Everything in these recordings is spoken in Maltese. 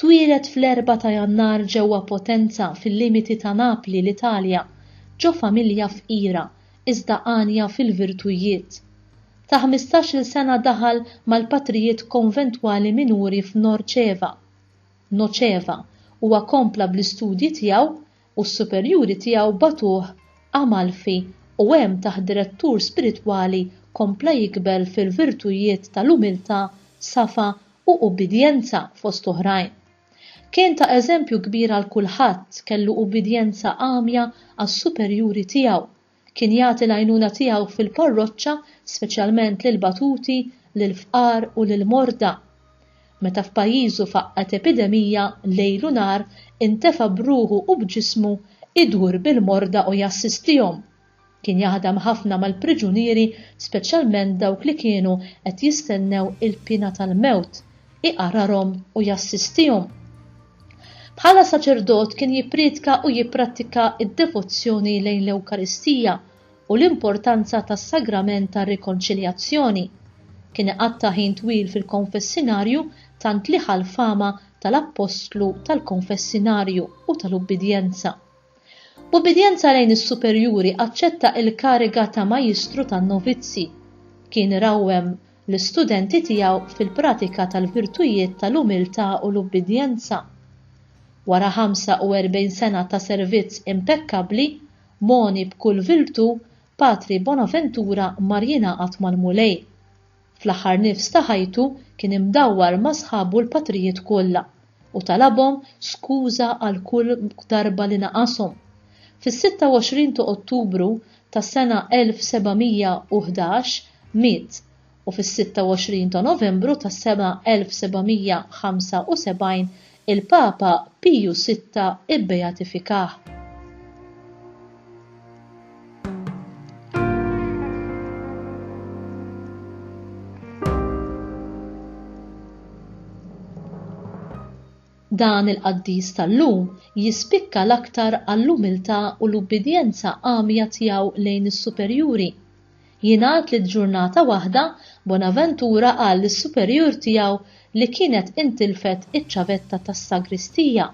Twieled fl-Erbgħa ta' Jannar ġewwa Potenza fil-limiti ta' Napli l-Italja, ġo familja fqira iżda għanja fil-virtujiet. Ta' ħmistax-il sena daħal mal-patrijiet konventwali minuri f'Norceva, Noceva, huwa kompla bl-istudji tiegħu u s-superjuri tiegħu bagħtuh Amalfi u hemm taħt direttur spiritwali kompla jikber fil-virtujiet tal-umiltà, safa u ubbidjenza, fost oħrajn. Kien ta' eżempju kbir għal kulħadd, kellu ubbidjenza għamja għas-superjuri tiegħu, Kien jagħti l-għajnuna tiegħu fil-parroċċa, speċjalment lill-batuti, lill-fqar u lill-morda. Meta f'pajjiżu faqqgħet epidemija, lejl u nhar intefa' b'ruħu u b'ġismu jdur bil-morda u jassistihom. Kien jaħdem ħafna mal-priġunieri, speċjalment dawk li kienu qed jistennew il-piena tal-mewt, iqararhom u jassistihom. Bħala saċerdot kien jippriedka u jipprattika d-devozzjoni lejn l-Ewkaristija u l-importanza tas-Sagrament tar-Rikonċiljazzjoni. Kien iqatta' ħin twil fil-konfessinarju tant li ħa l-fama tal-Appostlu tal-konfessinarju u tal-ubbidjenza. B'ubbidjenza lejn is-superjuri aċċetta il-kariga ta' majistru tan-novizzi. Kien irawwem l-istudenti tiegħu fil-pratika tal-virtujiet tal-umiltà u l-ubbidjenza. Wara 45 sena ta' servizz impekkabbli, mogħni b'kull virtù, Patri Bonaventura mar jingħaqad mal-Mulej. Fl-aħħar nifs ta' ħajtu kien imdawwar ma' sħabu l-patrijiet kollha u talabhom skuża għal kull darba li naqashom. Fis-26 ta' Ottubru tas-sena 1711 miet u fis-26 ta' Novembru tas-sena 1775 il-Papa Piju Sitta bbeatifikah. Dan il-qaddis tal-lum jispikka l-aktar għall-umiltà u l-ubbidjenza għamja tiegħu lejn is-superjuri. Jingħad li ġurnata waħda Bonaventura qal lis-superjur tiegħu li kienet intilfet iċ-ċavetta tas-sagristija.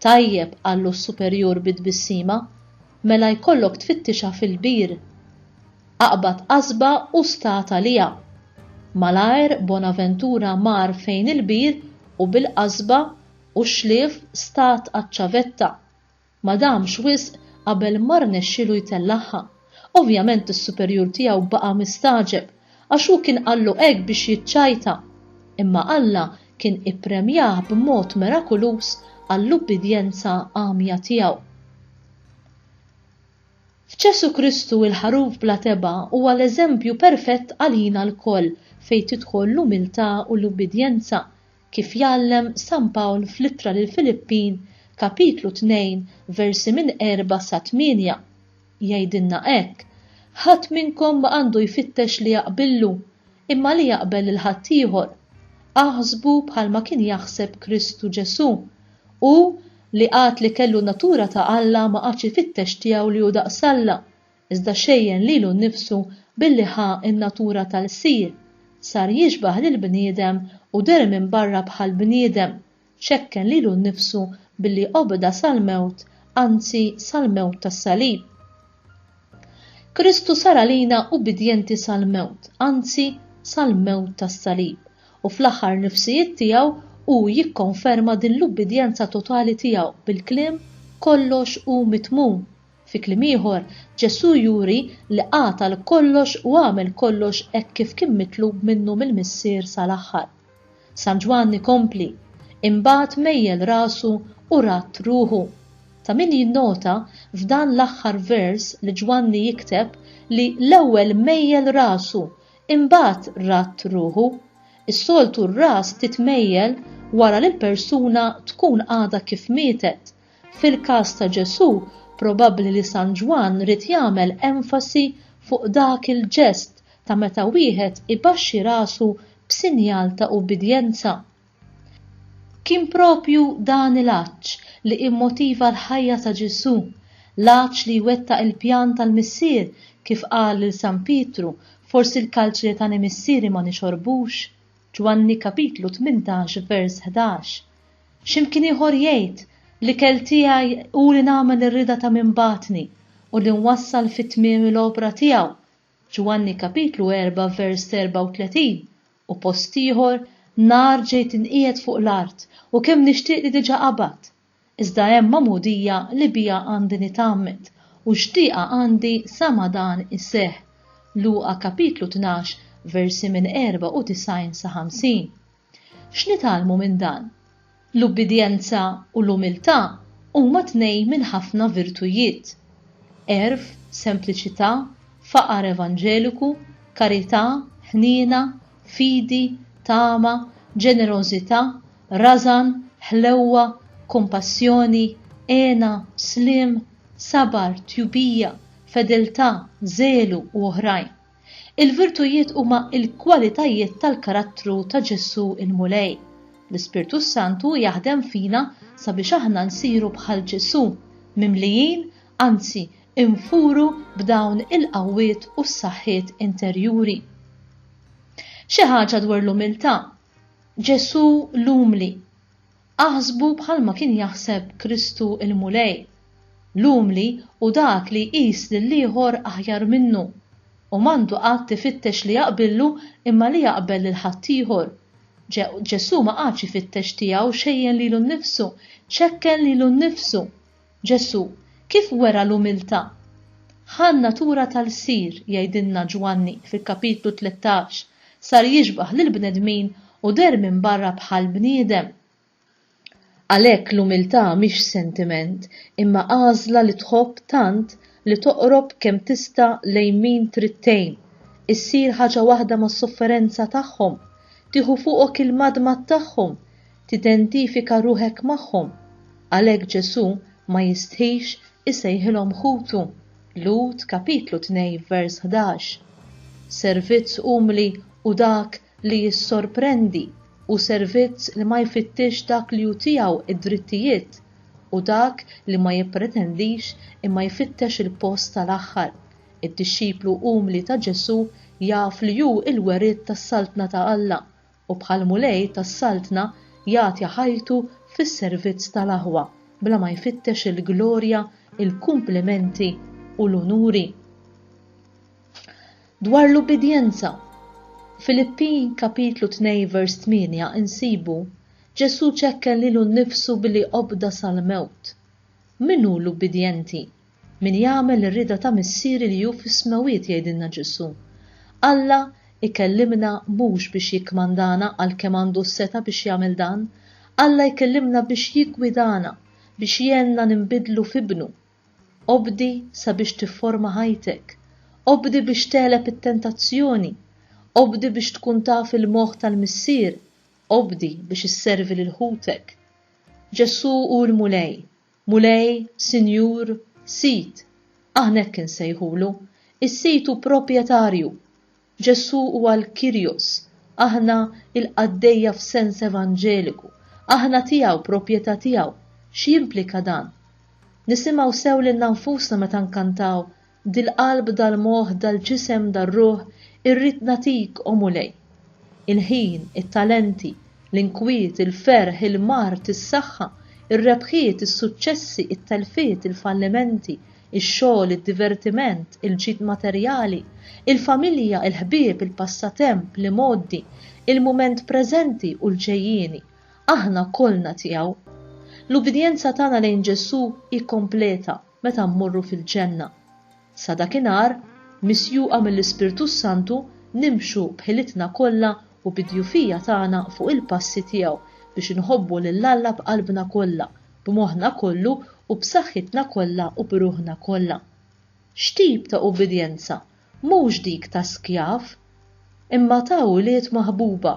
Tajjeb, qallu s-superjur bi tbissima, mela jkollok tfittixha fil-bir. Aqbad qasba u stat għaliha. Malajr Bonaventura mar fejn il-bir u bil-qasba u x-xlief stat għaċ-ċavetta. Ma damx wisq qabel ma rnexxielu jtellagħha. Ovvjament is-superjur tiegħu baqa' mistagħġeb għax hu kien qallu hekk biex jiċċajta. Imma Alla kien ippremjah b'mod merakuluż għall-ubbidjenza għamja tiegħu. F'Ġesù Kristu il-Ħaruf bla tebgħa huwa l-eżempju perfett għalina lkoll fejn tidħol l-umiltà u l-ubbidjenza Kif jgħallem San Pawl fl-Ittra lill-Filippin, kapitlu 2, versi minn 4 sa 8, jgħidilna hekk, Ħadd minnkom ma għandu jfittex li jaqbillu, imma li jaqbel lil ħaddieħor. Aħsbu bħalma kien jaħseb Kristu Ġesù. Hu, li għad li kellu n-natura ta' Alla ma qagħadx ifittex tiegħu li hu daqs Alla, iżda xejjen lilu nnifsu billi ħa n-natura tal-Lsir, sar jixbah lill-bniedem u deher minn barra bħal bniedem, xekken lilu nnifsu billi obda sal-mewt, anzi sal-mewt tas-salib. Kristu sar għalina ubbidjenti sal-mewt, anzi sal-mewt tas-salib, u fl-aħħar nifsijiet tiegħu hu jikkonferma din l-ubbidjenza totali tiegħu bil-kliem kollox hu mitmum. Fi kliem ieħor, Ġesù juri li qatal kollox u għamel kollox hekk kif kien mitlub minnu mill-Missier sal-aħħar. San Ġwann ikompli, Imbagħad mejjel rasu u radd ruħu. Ta' min jinnota, f'dan l-aħħar vers, li Ġwanni jikteb li l-ewwel mejjel rasu, imbagħad radd ruħu. Is-soltu r-ras titmejjel wara li l-persuna tkun għadha kif mietet, Fil-każ ta' Ġesù, probabbli li San Ġwann ried jagħmel enfasi fuq dak il-ġest ta' meta wieħed ibaxxi rasu b'sinjal ta' ubbidjenza. Kien proprju dan il-għatx li immotiva l-ħajja ta' Ġesù, l-għatx li jwettaq il-pjan tal-Missier, kif qal lil San Pietru, Forsi l-kalċi li tani Missieri ma nixorbux? Ġwanni kapitlu 18 vers 11. X'imkien ieħor jgħid, L-ikel tiegħi hu li nagħmel ir-rieda ta' min bagħatni u li nwassal fi tmiemi l-opra tiegħu, Ġwanni kapitlu 4 vers 34, u post ieħor, Nar ġejt inqiegħed fuq l-art, u kemm nixtieq li diġà qabadt! Iżda hemm magħmudija li biha għandi nitgħammed, u xtieqa għandi sa ma dan iseħħ. Luqa kapitlu tnax, versi minn 94 sa 50. X'nitgħallmu minn dan? L-ubbidjenza u l-umiltà huma tnejn minn ħafna virtujiet. Għerf, sempliċità, faqar evanġeliku, karità, ħniena, fidi, tama, ġenerożità, Rażan, ħlewwa, kumpassjoni, hena, sliem, sabar, tjubija, fedeltà, żelu u oħrajn. Il-virtujiet huma l-kwalitajiet tal-karattru ta' Ġesù l-Mulej. L-Ispirtu s-Santu jaħdem fina sabiex aħna nsiru bħal Ġesù, mimlijin, anzi infuru b'dawn il-qawwiet u s-saħħiet interjuri. Xi ħaġa dwar l-umiltà, Ġesù l-umli. Aħsbu bħalma kien jaħseb Kristu l-Mulej. L-umli hu dak li jqis lill-ieħor aħjar minnu, u m'għandu qatt ifittex li jaqbillu imma li jaqbel lil ħaddieħor. Ġesù ma qagħadx ifittex tiegħu xejjen lilu nnifsu, ċekken lilu nnifsu. Ġesù kif wera l-umiltà? Ħa n-natura tal-sir, jgħidilna Ġwanni fil-kapitlu tlettax, sar jixbah lill-bnedmin u deher minn barra bħal bniedem. Għalhekk l-umiltà mhix sentiment imma għażla li tħobb tant li toqrob kemm tista' lejn min trid tgħin, issir ħaġa waħda mas-sofferenza tagħhom, tieħu fuqok il-madmad tagħhom, Tidentifika ruħek magħhom. Għalhekk Ġesù ma jistħix isejħilhom ħutu, Lhud kapitlu 2 vers 11. Servizz umli hu dak li jissorprendi u servizz li ma jfittixx dak li hu tiegħu d-drittijiet hu dak li ma jippretendix imma jfittex il-post tal-aħħar. Id-dixxiplu umli ta' Ġesù jaf li hu l-weriet tas-Saltna ta' Alla u bħall-Mulej tas-Saltna jagħti ħajtu fis-servizz tal-aħwa bla ma jfittex il-glorja, il-kumplimenti u l-unuri. Dwar l-ubbidjenza, Filippin kapitlu 2 vers 8 insibu Ġesù ċekken lilu nnifsu billi obda sal-mewt. Min hu l-ubbidjenti? Min jagħmel ir-rieda ta' Missieri li hu fis-smewwiet, jgħidilna Ġesù. Alla jkellimna mhux biex jikkmandana għalkemm għandu s-setgħa biex jagħmel dan. Alla jkellimna biex jiggwidana, biex jgħinna ninbidlu f'ibnu. Obdi sabiex tifforma ħajtek. Obdi biex tegħleb it-tentazzjoni. Obdi biex tkun taf il-moħħ tal-Missier. Obdi biex isservi lil ħutek. Ġesù hu l-Mulej. Mulej, Sinjur, Sid, aħna hekk insejħulu, is-Sid hu proprjetarju. Ġesù huwa l-Kyrios, aħna l-qaddejja f'sens evanġeliku, aħna tiegħu, proprjetà tiegħu. X'jimplika dan? Nisimgħu sew lilna nfusna meta nkantaw Dil-qalb, dal-moħħ, dal-ġisem, dar-ruħ, irrid nagħtik, O Mulej. Il-ħin, it-talenti, l-inkwiet, il-ferħ, il-mard, is-saħħa, ir-rebħiet, is-suċċessi, it-telfiet, il-fallimenti, ix-xogħol, id-divertiment, il-ġid materjali, il-familja, il-ħbieb, il-passatemp, l-imgħoddi, il-mument preżenti u l-ġejjieni, aħna kollna tiegħu. L-ubbidjenza tagħna lejn Ġesù hi kompleta. meta mmorru fil-ġenna. Sa dakinhar, misjuqa mill-Ispirtu s-Santu, nimxu b'ħilitna kollha u bid-djufija tagħna fuq il-passi tiegħu biex inħobbu lil Alla b'qalbna kollha, b'moħħna kollu u b'saħħitna kollha u b'ruħna kollha. X'tip ta' ubbidjenza mhux dik ta' skjav, imma ta' wlied maħbuba,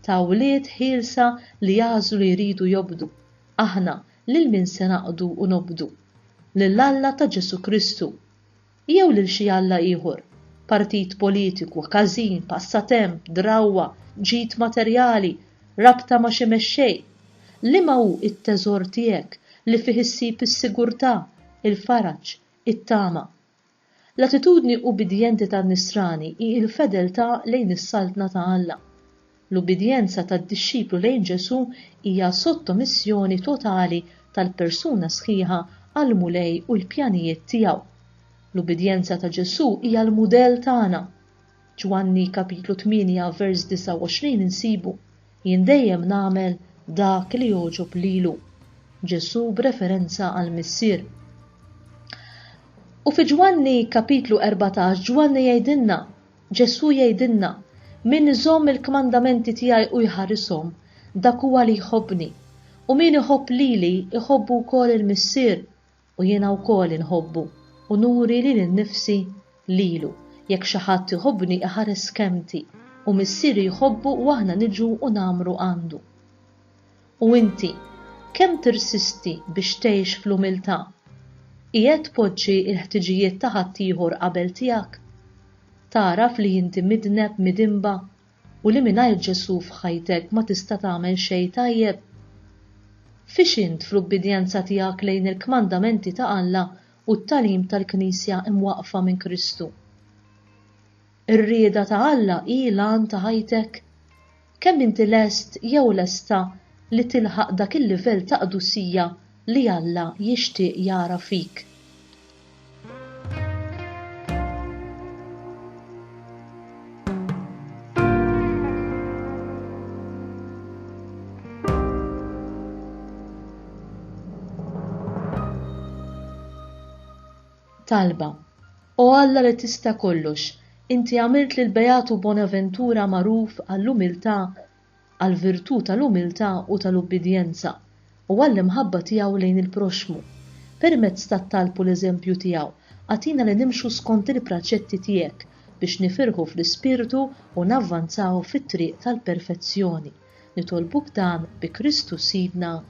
ta' wlied ħielsa li għażlu li jridu jobdu, aħna Lil min se naqdu u nobdu? Lil Alla ta' Ġesù Kristu? Jew lil xi alla ieħor, partit politiku, każin, passatemp, drawwa, ġid materjali, rabta ma' xi mexxej? Liema hu t-teżor tiegħek li fih issib is-sigurtà, il-faraġ, it-tama? L-attitudni ubbidjenti tan-Nisrani hi l-fedeltà lejn is-Saltna ta' Alla. L-ubbidjenza tad-dixxiplu lejn Ġesù hija sottomissjoni totali tal-persuna sħiħa għall-Mulej u l-pjanijiet tiegħu. L-ubbidjenza ta' Ġesù hija l-mudell tagħna. Ġwanni kapitlu 8 vers 29 insibu, Jien dejjem nagħmel dak li jogħġob lilu. Ġesù b'referenza għall-Missier. U fi Ġwanni kapitlu 14 Ġwanni jgħidilna, Ġesù jgħidilna, min iżomm il-kmandamenti tiegħi u jħarishom, dak huwa li jħobbni. U min iħobb lili jħobbu wkoll il-Missier U jiena wkoll inħobbu u nuri lili nnifsi lilu. Jekk xi ħadd iħobbni iħares kelmti, u Missieri jħobbu u aħna niġu u ngħammru għandu. U inti, kemm tirsisti biex tgħix fl-umiltà? Qiegħed tpoġġi l-ħtiġijiet ta' ħaddieħor qabel tiegħek? Tagħraf li inti midneb, midinba, u li mingħajr Ġesù f'ħajtek ma tista' tagħmel xejn tajjeb? Fiex int fl-ubbidjenza tiegħek lejn il-kmandamenti ta' Alla u t-tagħlim tal-Knisja imwaqqfa minn Kristu? Ir-rieda ta' Alla hi l-għan ta' ħajtek? Kemm inti lest jew lesta li tilħaq dak il-livell ta' qdusija li Alla jixtieq jara fik. Talba O Alla li tista' kollox, inti għamilt lil Beatu Bonaventura magħruf għall-umiltà għall-virtù tal-umiltà u tal-ubbidjenza, u għall-imħabba tiegħu lejn il-proxxmu. Permezz tat-talb u l-eżempju tiegħu, agħtina li nimxu skont il-praċetti tiegħek biex nifirħu fl-ispirtu u navvanzaw fit-triq tal-perfezzjoni. Nitolbuk dan bi Kristu Sidna.